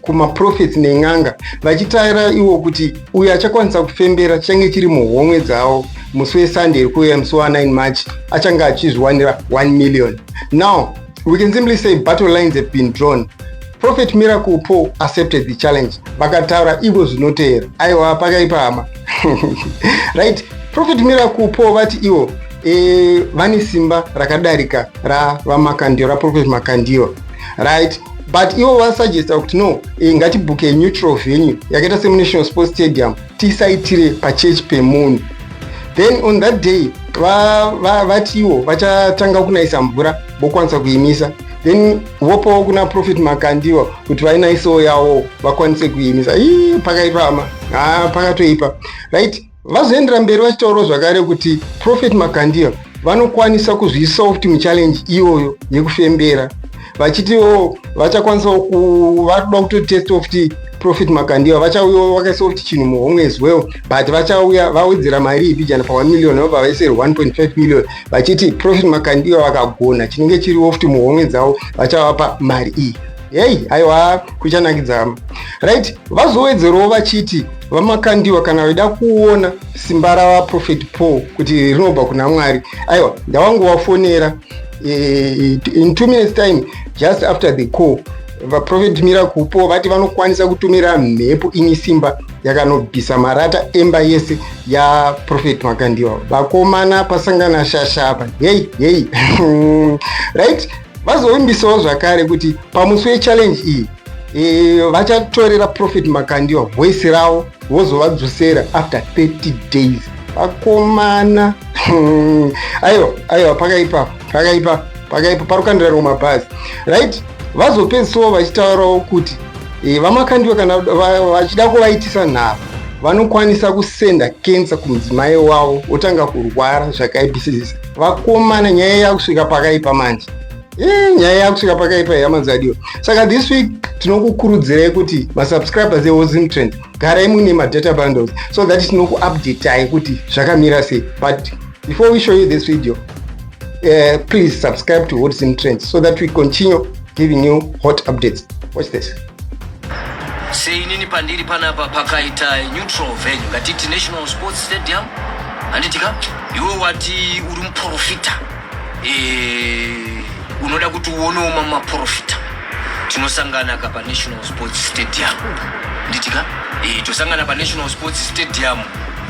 kumaprofeti nen'anga vachitaira iwo kuti uyo achakwanisa kufembera chichange chiri muhomwe dzavo musi wesunday iri kuuya musi wa9 march achange achizviwanira 1 million now we can simply say battle lines have been drawn prophet miracle paul accepted the challenge vakataura ivo zvinoteera aiwa pakaipa hama right prophet miracle paul vati ivo e, vane simba rakadarika ravamakandiro raprofet makandiro right but ivo vasuggesta kuti no eh, ngatibhuke neutral venue yakaita semunational sports stadium tisaitire pachurch pemunhu then on that day vatiwo va, va vachatanga kunayisa mvura vokwanisa kuimisa then vopawo kuna profit makandiwa kuti vainaisawo yawo vakwanise kuimisa ii pakaipama haa pakatoipa right Vazoendera mberi vachitaurawo zvakare kuti Prophet Makandiwa vanokwanisa kuzviisawo kuti muchallenge iyoyo yekufembera vachitiwo vachakwanisawo kuvakuda kutotestawo kuti Prophet Makandiwa vachauyawo vakaisawo kuti chinhu muhomwe as well but vachauya vawedzera mari ibijana pa 1 million vabva vaiseri 1.5 million vachiti Prophet Makandiwa vakagona chinenge chiriwo kuti muhomwe dzavo vachavapa mari iyi hei aiwa kuchanakidza hama right vazowedzerawo vachiti vamakandiwa kana vaida kuona simba ravaprofet paul kuti rinobva kuna mwari aiwa ndavangovafonera eh, in two minutes time just after the call vaprofet mira kupo vati vanokwanisa kutumira mhepo ini simba yakanobvisa marata emba yese yaprofet makandiwa vakomana pasangana shasha apa hei hei right Vazovimbisawo zvakare kuti pamusi wechallenge iyi e, vachatorera Prophet Makandiwa voice ravo vozovadzosera after 30 days. Vakomana aiwa aiwa pakaipa pakaipa pakaipa parukandira roma bhazi right vazopedzisawo vachitaurawo kuti e, vamakandiwa kana vachida kuvaitisa nharo vanokwanisa kusenda kensa kumudzimai wavo otanga kurwara zvakaipisisa vakomana nyaya yakusvika pakaipa manje eh, nyaya yakusvika pakaipa yamazadiwa saka this week tinokukurudzirai kuti masubscribers eozim trend garai muine madata bundles so that tinokuupdatai kuti zvakamira sei but before we show you this video uh, please subscribe to ozim trend so that we continue giving you hot updates watch this sei nini pandiri panapa pakaita neutral venue ngatiti national sports stadium handiti ka iwe wati uri muprofita eh, unoda kuti uonewo mamwe maprofita tinosangana ka panational sports stadium handiti ka eh, tosangana panational sports stadium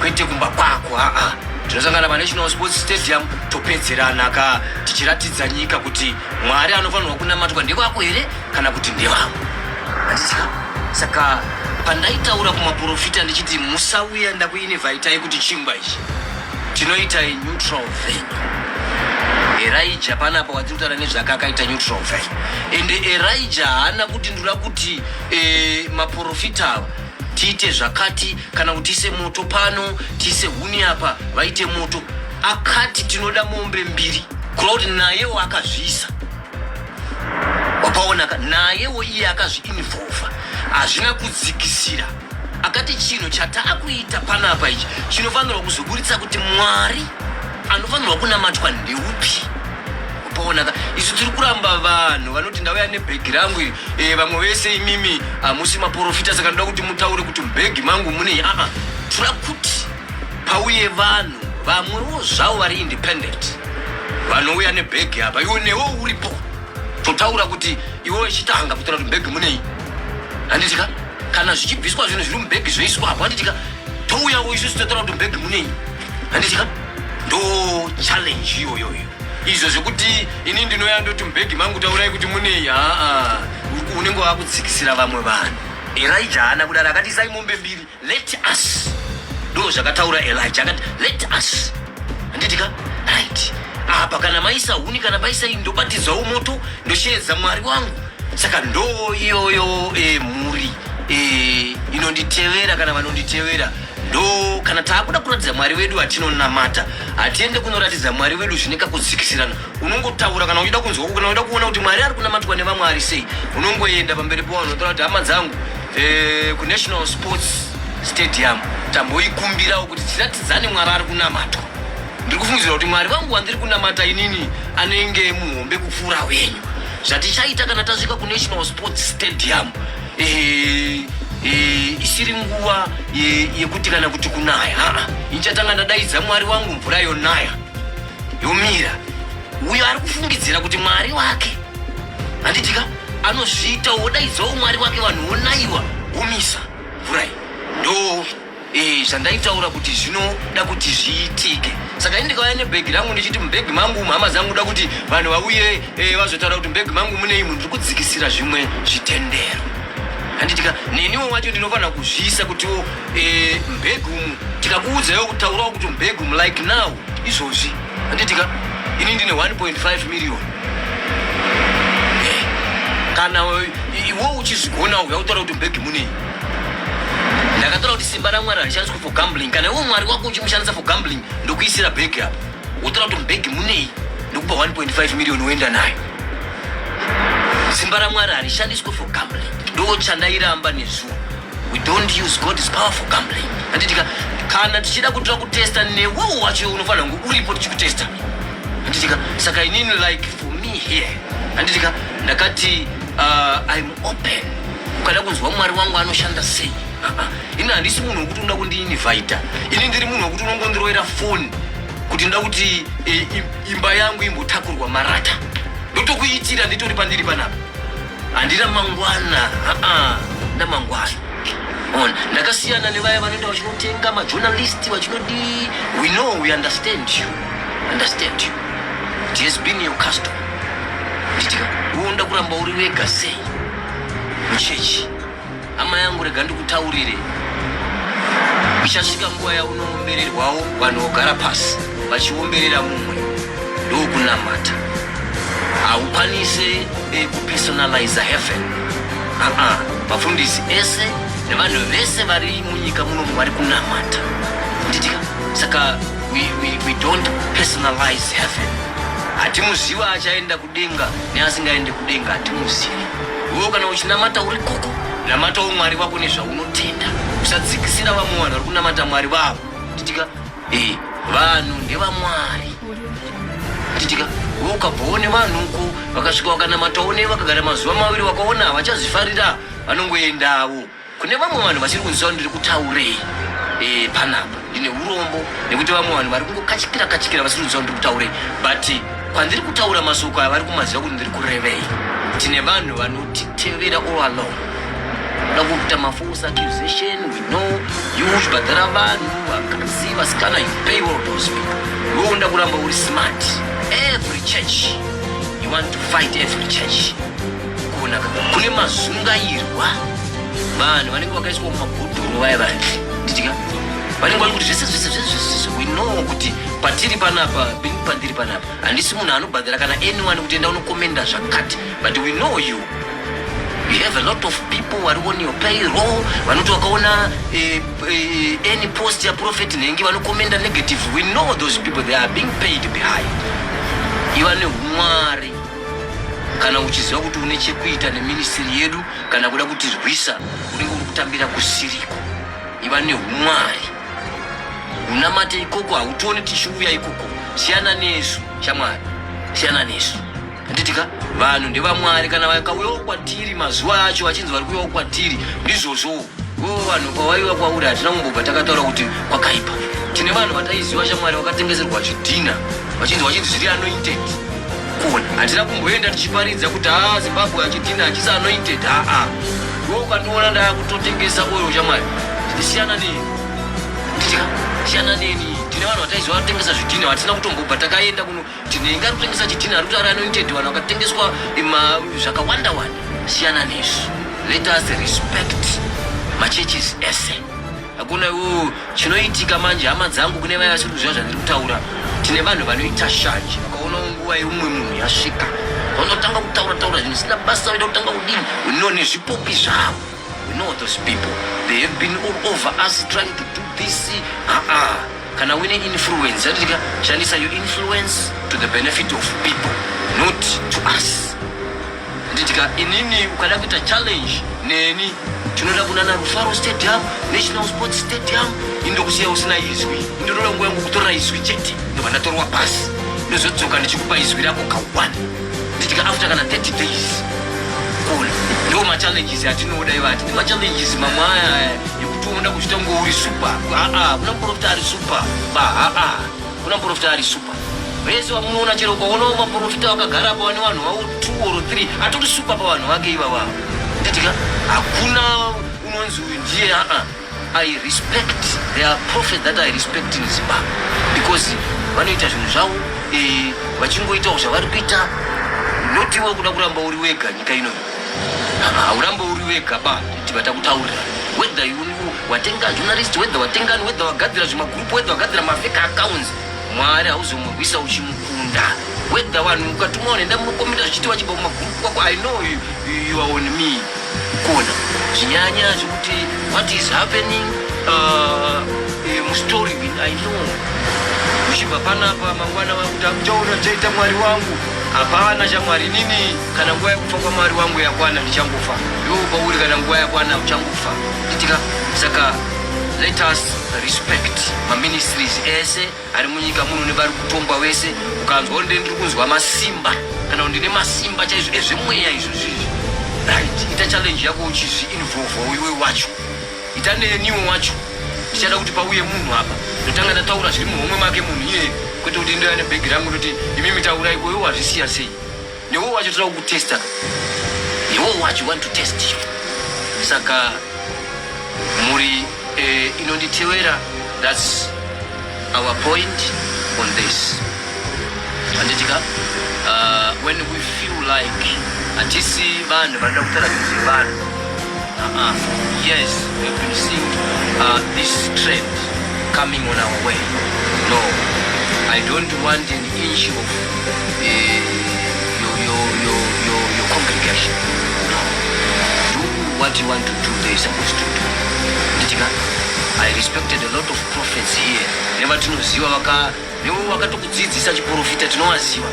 kwete kumba kwako aa tinosangana panational sports stadium topedzerana ka tichiratidza nyika kuti Mwari anofanirwa kunamatwa ndevako here kana kuti ndevavo? Handitya. Saka pandaitaura kumaporofita ndichiti musauya ndakuinivhaitai kuti chingwa ichi tinoitai neutral venue erija panapa watiri kutaura nezvake akaita neutral venue ende erija haana kuti ndura kuti eh, maporofita ava tiite zvakati kana kuti tiise moto pano tiise huni apa vaite moto akati tinoda mombe mbiri kureva kuti nayewo akazviisa wakaonaka nayewo iye akazviinvolva hazvina kudzikisira akati chinhu chataakuita panapa ichi chinofanirwa kuzoburitsa kuti mwari anofanirwa kunamatwa ndeupi upoonaka isu tiri kuramba vanhu vanoti ndauya nebhegi rangu iri eh, vamwe vese imimi hamusi maporofita saka ndoda kuti mutaure kuti mubhegi mangu munei aa tira kuti pauye vanhu vamwewo zvavo vari independent vanouya nebhegi apa iwe newo uripo totaura kuti iwe wechitanga kutora kuti bhegi munei handitika kana zvichibviswa zvinhu zviri mubhegi zvoiswa apo handitika touyawo isu sitotora kuti bhegi munei handitya ndo challenge iyoyoyo izvo zvekuti ini ndinoya ndoti mubhegi mangu taurai kuti munei aa unenge wakutsikisira vamwe vanhu erija haana kudaro akati isai mombe mbiri let us ndo zvakataura elija akati let us handitika right apa kana maisa huni kana maisa iyi ndobatidzwawo moto ndosheedza mwari wangu saka ndo iyoyo e, mhuri e, inonditevera kana vanonditevera ndo kana taakuda kuratidza mwari wedu vatinonamata hatiende kunoratidza mwari wedu zvine kakudzikisirana unongotaura kana uchida kunzwa kana uchida kuona kuti mwari ari kunamatwa nevamwe ari sei unongoenda pamberi pavanhu otaura kuti hama dzangu eh, kunational sports stadium tamboikumbirawo kuti tiratidzane mwari ari kunamatwa ndiri kufungidzira kuti mwari vangu wandiri kunamata inini anenge muhombe kupfuura wenyu zvatichaita kana tasvika kunational sports stadium isiri nguva yekuti kana kuti kunaya aa ichatanga ndadaidza mwari wangu mvura yonaya yomira uyo ari kufungidzira kuti mwari wake handitika anozviita wodaidzawo mwari wake vanhu wonayiwa womisa mvura iyi ndo Eh, zvandaitaura kuti zvinoda kuti zviitike saka ini ndikauya nebhegi rangu ndichiti mubhegi mangu mhama dzangu da kuti vanhu vauye eh, vazotaura kuti mubhegi mangu mune imu ndiri kudzikisira zvimwe zvitendero handitika neniwo wacho ndinofanira kuzviisa kutiwo eh, mubhegi umu tikakuudzayo kutaurawo kuti mubhegi umu like now izvozvi handitika ini ndine 1.5 million eh, kana iwo uchizvigona uya utaura kuti mbegi munei ndakataura kuti simba ramwari harishandiswe for gambling kana iwo mwari wako uchimushandisa for gambling ndokuisira bhegi apa wotaura kuti mbegi munei ndokupa 1.5 million woenda nayo simba ramwari harishandiswe for gambling ndoochandairamba nezuva We don't use God is powerful gambling. Handitika kana tichida kutora kutesta newewo wacho unofanira kunge uripo tichikutesta. Handitika saka inini like for me here. Handitika ndakati uh, I'm open. Ukada kunzwa Mwari wangu anoshanda sei? Uh-uh. Ini handisi munhu wekuti unoda kundiinvita. Ini ndiri munhu wekuti unongondiroera phone kuti ndoda kuti e, imba yangu imbotakurwa marata. Ndotokuitira nditori pandiri panapa. handina mangwana aa ndamangwana on ndakasiyana nevaya vanoenda vachinotenga majournalist vachinodii we know we understand you understand you it has been your custom nditika woda kuramba uri wega sei muchechi Hama yangu rega ndikutaurire. Ichasvika nguva yaunoombererwawo vanhu vogara pasi vachiomberera mumwe ndokunamata. Haukwanise eh, kupersonaliza heaven. Aa, vafundisi ese nevanhu vese vari munyika munomu vari kunamata. Nditika saka we, we, we don't personalize heaven. Hatimuziva achaenda kudenga neasingaende kudenga hatimuzivi wewo kana uchinamata uri koko namatawo mwari vako nezvaunotenda usadzikisira vamwe vanhu vari kunamata mwari vavo titika e vanhu ndevamwari titika we ukabvoone vanhu uko vakasvika vakanamatawo ne vakagara mazuva maviri vakaona havachazvifarira vanongoendavo Kune vamwe vanhu vasiri kunziva ndiri kutaurei eh, panapa ndine urombo nekuti vamwe vanhu vari kungokachikira kachikira vasiri kunziva ndiri kutaurei but kwandiri kutaura mashoko aya vari kumaziva kuti ndiri kurevei tine vanhu vanotitevera all along da kuita mafos accusation we know you zvibhadhara vanhu vakadzi vasikana you pay all those people iwe unoda kuramba uri smart every church you want to fight every church kunaka kune mazungairwa vanhu vanenge vakaiswa mumabhodhoro vaya vaya ndidika vanenge vari kuti zvese zvese zvese we know kuti patiri panapa pandiri panapa handisi munhu anobhadhara kana anyone kuti enda unokomenda zvakati but we know you you have a lot of people vari on your payroll vanoti wakaona eh, eh, any post yaprofet nhengi vanokomenda negative we know those people they are being paid behind iva neumwari kana uchiziva kuti une chekuita neministiri yedu kana kuda kutirwisa unenge uri kutambira kusiriko iva neumwari unamate ikoko hautione tichiuya ikoko siyana nesu shamwari siyana nesu anditika vanhu ndevamwari kana vakauyawo kwatiri mazuva acho vachinzi vari kuyawo kwatiri ndizvozvowo Ko vanhu kwavaiva kwauri hatina kumbobva takataura kuti kwakaipa. Tine vanhu vataiziva shamwari vakatengeserwa zvidhina vachinzi vachinzi zviri anointed. Kuona hatina kumboenda tichiparidza kuti haa Zimbabwe achidhina achisi anointed haa. Ko ukandiona ndakutotengesa oil shamwari siyana neni. Nditya siyana neni. Tine vanhu vataiziva vatengesa zvidhina hatina kutombobva takaenda kuno Tine inga kutengesa chidhina ari kutaura anointed vanhu vakatengeswa zvakawanda wanda siyana nezvi let us respect machurches ese hakuna iwo chinoitika manje hama dzangu kune vaya vasiri kuziva zvandiri kutaura tine vanhu vanoita shanje vakaona nguva yeumwe munhu yasvika vanotanga kutaura taura zvinosina basa vaida kutanga kudini unone zvipopi zvavo We know those people. They have been all over us trying to do this. Uh-uh. Kana wine influence, yatika shandisa your influence to the benefit of people, not to us. Nditika inini ukada kuita challenge neni tinoda kunana Rufaro Stadium, National Sports Stadium, indokusiya usina izwi. Ndinoda nguva yangu kutora izwi chete, ndobva ndatorwa pasi. Ndozodzoka ndichikupa izwi rako kawani. nditika after kana 30 days cool ndo ma challenges atinoda ivati ma challenges mamaya yekuti unoda kuchita ngo uri super a a kuna profita ari super ba a a kuna profita ari super vese vamunoona chero ukaona uma profita wakagara pa wani vanhu vawo 2 or 3 atori super pa vanhu vake ivava nditika hakuna unonzi uyu ndiye a a I respect there are prophets that I respect in Zimbabwe because vanoita zvinhu zvavo eh, vachingoitawo zvavari kuita not iwe kuda kuramba uri wega nyika ino hauramba uri wega ba kuti vatakutaurira whether you watenga journalist whether watengani whether wagadzira zvimagroup whether wagadzira mafake accounts mwari hauzomurwisa uchimukunda Whether one ukatuma one ndamu komita zvichitiwa chibo maguru kwako I know you, you are on me. Kona. Zvinyanya zvikuti what is happening uh, eh, mu story bin I know. Kushibva panapa mangwana wangu takuchaona chaita mwari wangu. Hapana cha mwari nini kana nguwa yekufa kwa mwari wangu yakwana ndichangofa. Yo pauri kana nguwa yakwana uchangofa. Itika saka let us respect ma ministries ese Ari munyika muno nevari kutongwa wese ukanzwa kuti ndiri kunzwa masimba kana kuti ndine masimba chaizvo ezvemweya izvo zvizvi right ita challenge yako uchizvi involva iwe wacho ita neniwe wacho ndichada kuti pauye munhu apa ndotanga ndataura zviri muhomwe make munhu iye kwete kuti ndoya nebhegi rangu ndoti imi mitaurai koiwo hazvisiya sei Newe wacho toda kukutesta. Newe wacho want to test you. Saka muri eh, inonditewera that's our point on this. Anditika uh, ah, when we feel like atisi vanhu vanoda kutara kuti vanhu. Uh -uh. Yes, we've been seeing uh, this trend coming on our way. No. I don't want issue of uh, your, your, your, your, your congregation. No. Do what you want to do, they are supposed to do. Ndichika, I respected a lot of prophets here. Never to know ziwa waka, newe wakatokudzidzisa chiprofita tinowaziwa.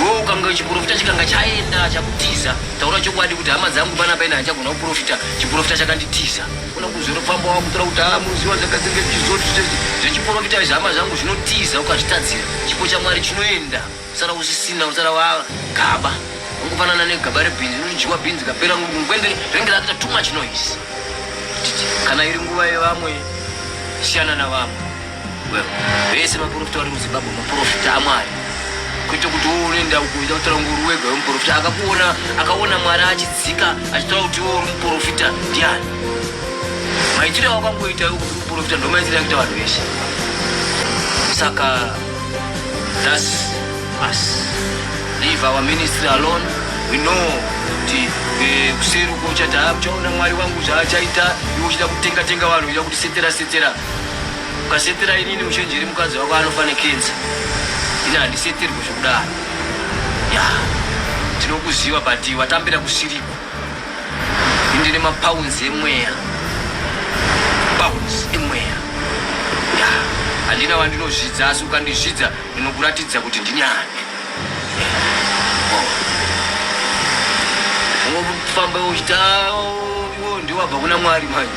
Wewe ukanga chiprofita chikanga chaenda chakutiza. Taura chokwadi kuti hama dzangu pana paina hachagona kuprofita, chiprofita chakanditiza. Kuna kuzero pamba wakutora kuti haa munoziva zvakadzenge zvichizoti zvechiporofita zvama zvangu zvinotiza ukazvitadzira chipo chamwari chinoenda usara usisina usara wava gaba ungofanana negaba rebhinzi rinodyiwa bhinzi kapera ngwende renge rakuita too much noise kana iri nguva yevamwe siyana navamwe vese vaprofita vari muzimbabwe maprofita amwari kuita kuti uone ndau kuita kutaura kuti uri wega wemuprofita akakuona akaona mwari achidzika achitaura kuti iwe uri muprofita ndiani maitiro awakangoita iwe kuti muprofita ndo maitiro akuita vanhu vese saka thus us leave our ministry alone we know kuti eh, kuseri uko uchati haa uchaona mwari wangu zvaachaita iwe uchida kutenga tenga vanhu uchida kuti setera setera ukasetera inini muchenjeri mukadzi wako anofa nekenza ini handiseterwe zvekudaro ya tinokuziva but watambira kusiriko indine mapounds emweya pounds emweya ya handina wandinozvidza asi ukandizvidza ndinokuratidza kuti ndinyani ungofamba uchita iwo ndiwabva kuna mwari manje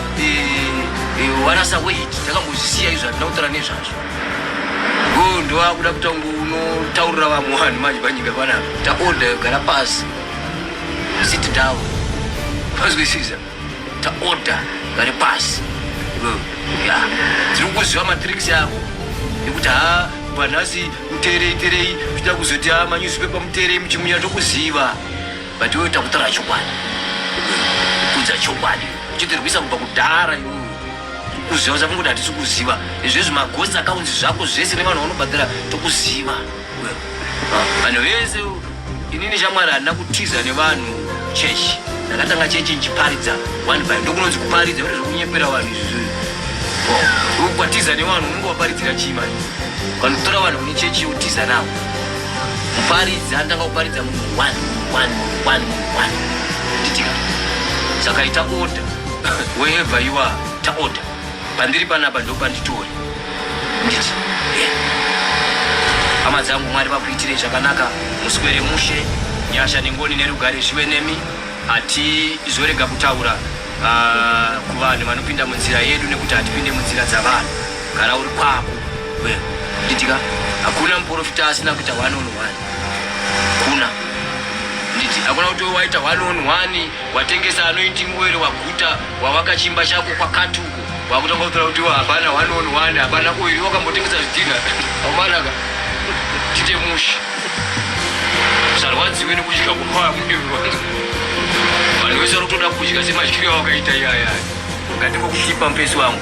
varasa weti takambozvisiya izvo hatina kutaura nezvazvo go ndovakuda kutanga unotaurira vamwe vanhu manje panyika panapa taorda yogara pasi sit down pazwisiza taorda gare pasi ya tiri kuziva matricks yako ekuti ha vanhasi muterei terei kuita kuzoti ha manyusipepa muterei muchimunya tokuziva But iwe takutora chokwadi. Kudza chokwadi. Chitirwisa kubva kudhara iwe. Kuziva zvapo kuti hatisi kuziva. Izvi zvi magosi akaunzi zvako zvese ne vanhu vanobhadhara tokuziva. Vanhu vese inini shamwari handina kutiza ne vanhu chechi. Ndakatanga chechi nchiparidza one by ndokunonzi kuparidza kuti zvekunyepera vanhu izvi. Ukwatiza ne vanhu unenge waparidzira chii manje. Kana kutora vanhu kune chechi yotiza navo. Muparidzi anotanga kuparidza munhu one one one one nditika saka ita order wherever you are ta order pandiri panapa ndopanditori nditi hama dzangu mwari vakuitirei zvakanaka muswere mushe nyasha nengoni nerugare zvive nemi hatizorega kutaura ah, kuvanhu vanopinda munzira yedu nekuti hatipinde munzira dzavanhu gara uri kwako Wewe nditika hakuna mporofita asina kuita one on one. Kuna nditi hakuna kuti waita one on one watengesa anoiti ngwere waguta wawaka chimba chako kwakati uko wakutanga kutora kuti hapana one on one hapana oiri wakambotengesa zvidhina aumanaka tite mushi usarwadziwe nekudya kukwaa mudivi wangu vanhu vese vanotoda kudya semadyiro awakaita iyaya ngatingokuchipa mupesi wangu